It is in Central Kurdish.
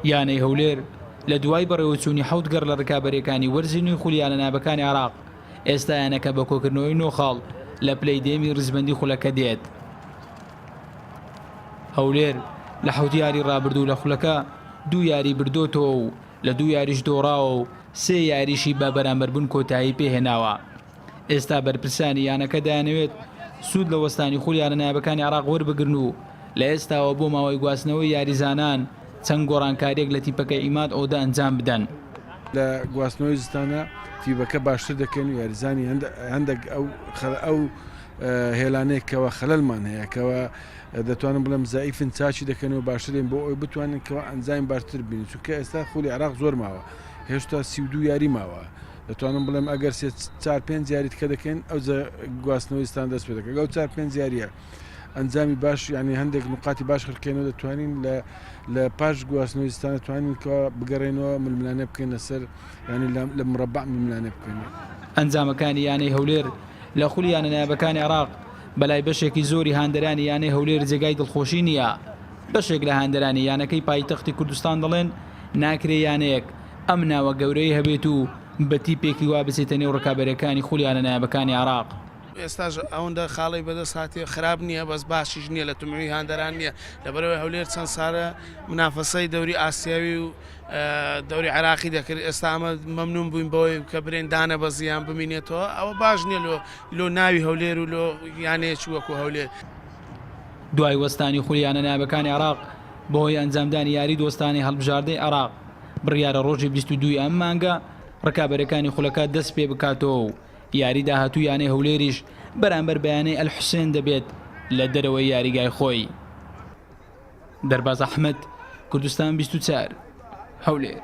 یانەی هەولێر لە دوای بەڕێوەچوونی حەوت گەڕ لە ڕکابەرەکانی وەرزی نوێی خولیانە نابەکانی عراق ئێستا یانەکە بە کۆکردنەوەی نۆخاڵ لە پلەی دێمی ڕزبندی خولەکە دێت هەولێر لە حەوت یاری ڕابردوو لە خولەکە دوو یاری بردۆتەوە و لە دوو یاریش دۆڕاوە و سێ یاریشی بە بەرامبەربوون کۆتایی پێهێناوە ئێستا بەرپرسانی یانەکە دەیانەوێت سوود لە وەستانی خول یانە نایابەکانی عێراق وەربگرن و لە ئێستاوە بۆ ماوەی گواستنەوەی یاریزانان چەند گۆڕانکارییەک لە تیپەکەی عیماد ئۆدە ئەنجام بدەن. لە گواستنەوەی زستانە تیپەکە باشتر دەکەین و یاریزانی هەندێک ئەو هێلانەیەک کەوا خەلەلمان هەیە کەوا دەتوانم بڵێم زعیفن چاچی دەکەن و باشترین بۆ ئەوی بتوانن کەوا ئەنجامی باشتر بین چونکە ئێستا خولی عراق زۆر ماوە هێشتا سی و دو یاری ماوە. دەتوانم بڵێم ئەگەر سێ چار پێنج یاری تکە دەکەین ئەو گواستنەوەی ستان دەست پێ دەکەن ئەو چار پێنج یاریە ئەنجامی باش ینی هەندێک نقاتی باش خرکێنەوە دەتوانین لە لە پاش گواستنەوەی ستان توانین کە بگەڕێنەوە ململانە بکەین لەسەر ینی لە مڕبع ململانە بکەین. ئەنجامەکانی یانەی هەولێر لە خولی یانە نایابەکانی عێراق بەلای بەشێکی زۆری هاندەرانی یانەی هەولێر جێگای دڵخۆشی نییە، بەشێک لە هاندەرانی یانەکەی پایتەختی کوردستان دەڵێن، ناکرێ یانەیەک ئەم ناوە گەورەی هەبێت و بە تیپێکی وا بچێتە نێو ڕکابەرەکانی خولیانە نایابەکانی عێراق. ئێستاش ئەوەندە خاڵی بەدەست هاتیە خراپ نیە بەس باشیش نیە لە تموحی هاندەران نیە لەبەرئەوەی هەولێر چەند سالە منافەسەی دەوری ئاسیاوی و دەوری عێراقی دەکرد ئێستا ئەمە مەمنون بوین بەوەی کە برێن دانەبەزی یان بمینێتەوە ئەوە باش نیە لۆ لۆ ناوی هەولێر و لۆ یانەیەکی وەکو هەولێر. دوای وەستانی خولیانە نایابەکانی عێراق بەهۆی ئەنجامدانی یاری دۆستانەی هەڵبژاردەی عێراق، بڕیارە ڕۆژی بیست و دووی ئەم مانگە ڕکابەرەکانی خولەکە دەست پێ بکاتەوە و یاری داهاتوو یانەی هەولێریش بەرامبەر بە یانەی ئەلحوسێن دەبێت لە دەرەوەی یاریگای خۆی. دەرباز ئەحمەد، کوردستان بیست و چوار، هەولێر.